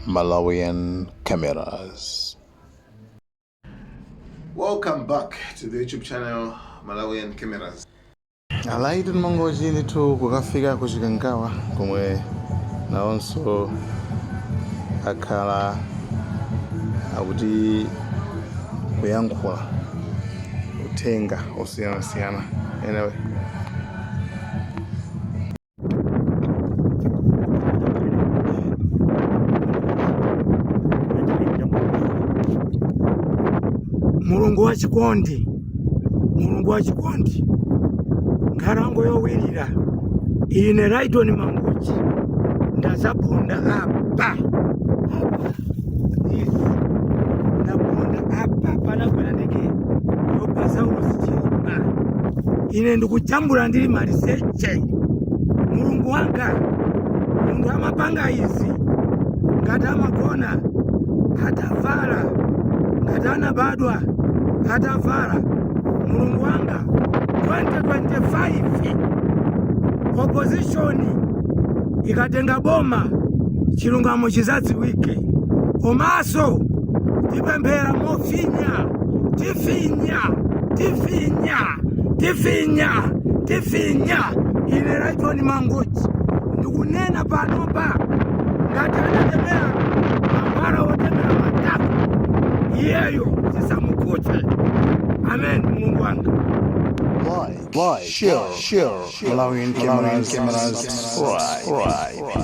Malawian cameras. Welcome back to the YouTube channel Malawian Cameras. A Laiton Mangochi ndithu kukafika ku Chikangawa komwe nawonso akhala akuti kuyankhula uthenga osiyanasiyana anyway mulungu wa chikondi mulungu wa chikondi nkhalango yowirira ine laitoni mangochi ndadzaponda apa apa Yes. ndaponda apa panagwera ndege yopha saulosi chilima ine ndikujambula ndili maliseche mulungu wanga munthu amapanga izi ngati amagona atavala ngati anabadwa atavala mulungu wanga 2025 opposition ikatenga boma chilungamo chidzadziwike komanso tipemphera mofinya tifinya tifinya tifinya tifinya ine laitoni mangochi ndikunena panopa ngati anatemera mankhwala otemera matako iyeyo zisamukhudze amen mulungu wanga Like, like, share, share, share. Malawian Cameras, Cameras, subscribe.